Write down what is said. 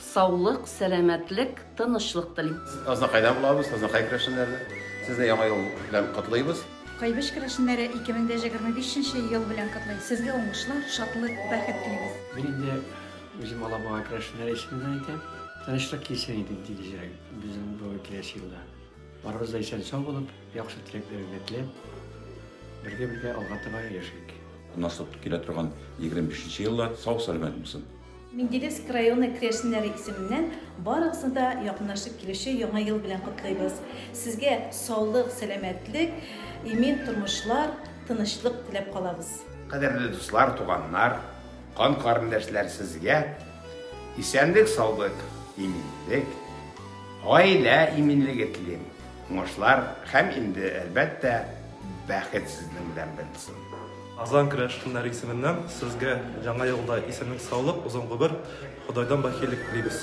Саулык, сәламәтлек, тынычлык телим. Азнакайдан булабыз, Азнакай керәшеннәре. Сезне Яңа ел белән котлыйбыз. Кайбыч керәшеннәре 2025 нче ел белән котлый. Сезгә уңышлар, шатлык, бәхет телибез. Мин инде үзем Алабуга керәшеннәре исеменнән әйтәм. Тынычлык килсен иде тигезрәк безнең бу киләсе елда. Барыбыз да исән-сау булып, яхшы теләкләр генә теләп, бергә-бергә алга таба яшик. Насып килә торган 25 нче еллар сау-сәламәт булсын. Менделеевск районы керәшеннәре исеменнән барыгызны да якынлашып килүче Яңа ел белән котлыйбыз. Сезгә саулык, сәламәтлек, имин тормышлар, тынычлык теләп калабыз. Кадерле дуслар, туганнар, кан карендәшләр, сезгә исәнлек-саулык, иминлек, гаилә иминлеге телим, уңышлар һәм инде, әлбәттә, бәхет сезнең белән булсын. Азан керәшеннәре исеменнән сезгә яңа елда исәнлек-саулык, озын гомер, Ходайдан бәхиллек телибез.